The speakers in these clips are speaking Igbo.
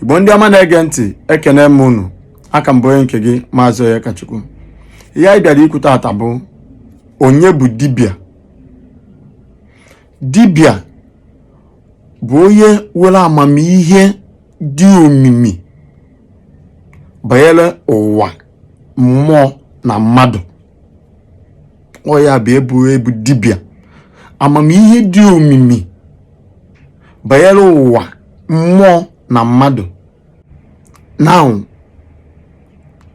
igbo ndị ọma na-ege ntị ekene m unu aka m bụ onye nke gị maazị Onyekachukwu ihe anyị bịara ikwu taata bụ onye bụ dibịa dibịa bụ onye nwere amamihe dị omimi banyere ụwa mmụọ na mmadụ ọ ya bụ ịbụ ịbụ dibịa amamihe dị omimi banyere ụwa mmụọ na mmadụ now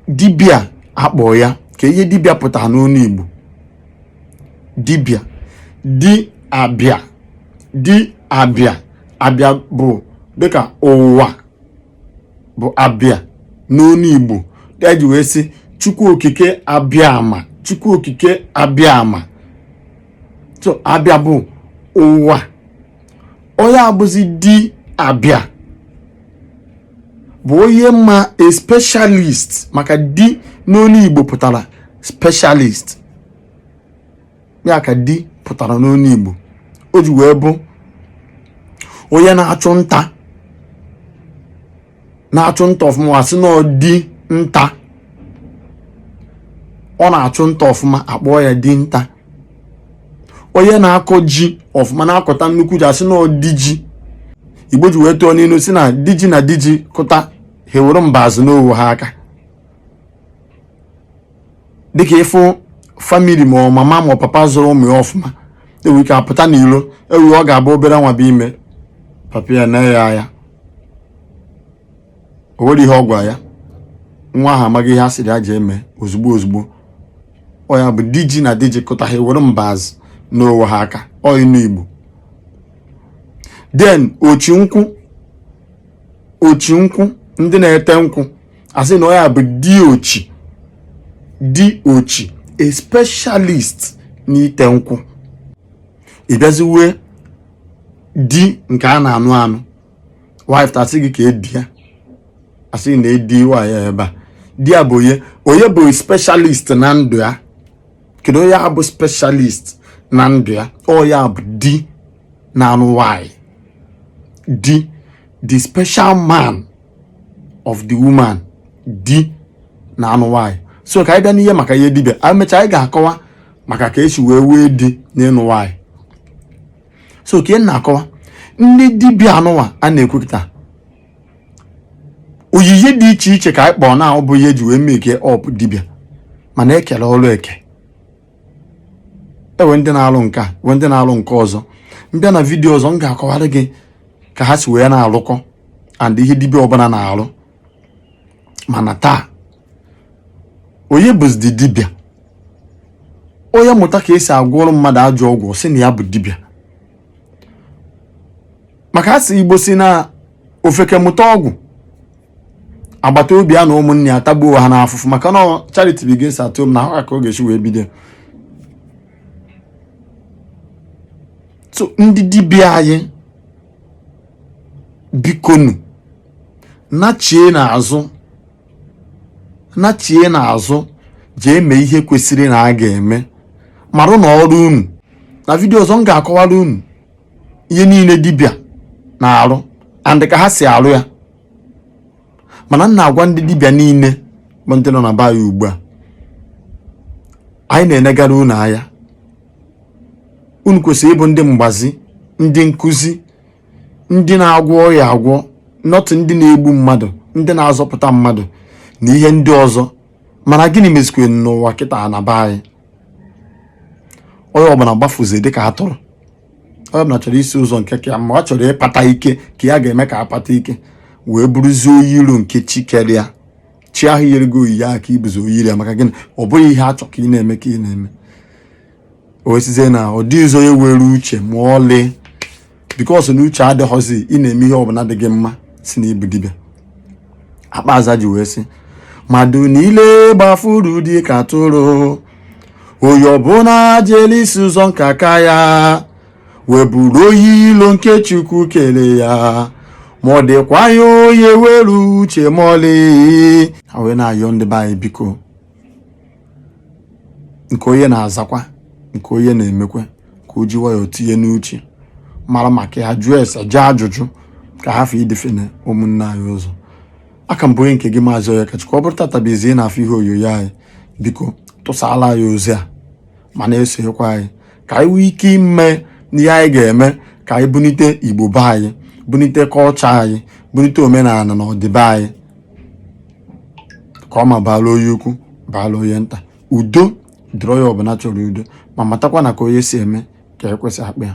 dibịa akpọọ ya kee ihe dibịa pụtara n'onu Igbo dibịa di abịa di abịa abịa bụ dịka ụwa bụ abịa n'onu igbo eji wee sị chukwu okike abịama chukwu okike abịa ama so abịa bụ ụwa onye abụzi di abịa bụ onye ma a specialist maka di n'onu igbo pụtara specialist ya ka di pụtara n'onu Igbo o ji wee bụ onye na-achụ nta na-achụ nta ọfụma asị na ọ di nta ọ na-achụ nta ọfụma akpọọ ya di nta onye na-akọ ji ọfụma na-akọta nnukwu ji asị na ọ di ji igbo ji wee tụọ n'inu sị na di ji na di ji kụta ha ewere mbazụ naa onwe ha aka dịka ịfụ family ma ọ mama ma ọ papa zụrụ ụmụ ya ọfụma enwere ike apụta n'ilo enwee ọ ga-abụ obere nwa bụ ime papa ya nee ya anya o nwere ihe ọ gwa ya nwa ahụ amago ihe a sịrị ya jee mee ozugbo ozugbo ọ ya bụ di ji na di ji kụta ha ewere mbazụ naa onwe ha aka ọ inu igbo then ochi nkwụ ochi nkwụ ndị na-ete nkwụ asị na ọ ya bụ diochi diochi a specialist n'ite nkwụ ịbịaziwe di nke a na-anụ anụ ịpụta asị gị kee di ya asị nee di nwanyị a ebe a di ya bụ onye onye bụ specialist na ndụ ya kedu onye bụ specialist na ndụ ya ọ ya bụ di na-anụ nwanyị di the special man of the woman di na-anụ nwaanyị so ka anyị bịa n'ihe maka ihe dibịa anyị mechaa anyị ga-akọwa maka ka esi wee nwee di n'ịnụ nwaanyị so ka ị na-akọwa ndị dibịa anụnwa a na-ekwupụta onyinye dị iche iche ka anyị kpọọ na ọ bụ ihe eji wee make up dibịa mana ekele ọrụ eke e nwee ndị na-alụ nke a nwee ndị na-alụ nke ọzọ m bịa na vidiyo ọzọ m ga-akọwara gị ka ha si wee na-alụkọ and ihe dibịa ọbụla na-alụ mana taa onye bụzi dibịa onye mụta ka esi agwọrọ mmadụ ajọ ọgwụ sị na ya bụ dibịa maka asị igbo sị na ofeke mụta ọgwụ agbata obi ya na ụmụnne ya atagbuo ha n'afụfụ maka na charity begins at home na ha ka ọ ga-esi wee bido so ndị dibịa anyị bikonu nachie n'azụ nachie n'azụ jee mee ihe kwesịrị na a ga-eme marụ na ọrụ unu na vidio ọzọ m ga-akọwara unu ihe niile dibịa na-arụ and ka ha si arụ ya mana m na-agwa ndị dibịa niile bụ ndị nọ na be anyị ugbu a anyị na-enegara unu anya unu kwesịrị ịbụ ndị mgbazi ndị nkụzi ndị na-agwọ ọya agwọ not ndị na-egbu mmadụ ndị na-azọpụta mmadụ na ihe ndị ọzọ mana gịnị mezikwere n'ụwa kịta na be anyị onye ọbụla gbafuzi dịka atụrụ onye ọbụla chọrọ isi ụzọ nke ka ya mma ọ chọrọ ịkpata ike ka ya ga-eme ka akpata ike wee bụrụzie onye iro nke chi kere ya chi ahụ yere gị onyinye ahụ ka ị bụzi onye iro ya maka gịnị ọ bụghị ihe a chọ ka ị na-eme ka ị na-eme o wee sịzie na ọ dịghịzi onye were uche ma ọlị because na uche adịghọzi ị na-eme ihe ọbụla dị gị mma sị na ị bụ dibịa akpa aza ji wee sị mmadụ niile gbafuru dị ka atụrụ onye ọbụla jere isi ụzọ nke aka ya wee bụrụ onye ilo nke chukwu kere ya ma ọ dịkwaghị onye were uche ma ọlị ha wee na-ayọ ndị be anyị biko nke onye na-azakwa nke onye na-emekwa ka o ji nwayọọ tinye n'uche mara maka ya jụọ ese jee ajụjụ ka ha fee idefene ụmụnne anyị ụzọ a ka m bụ onye nke gị maazị onyekachukwu ọ bụrụ tata bụ izizi ị na-afụ ihe onyonyo anyị biko tụsala anyị ozi a ma na-esonyekwa anyị ka anyị nwee ike ime ihe anyị ga-eme ka anyị bunite igbo be anyị bunite culture anyị bunite omenala na ọdịbe anyị ka ọ ma baala onye ukwu baala onye nta udo dịrị onye ọbụla chọrọ udo ma matakwa na ka onye si eme ka ekwe si akpọ ya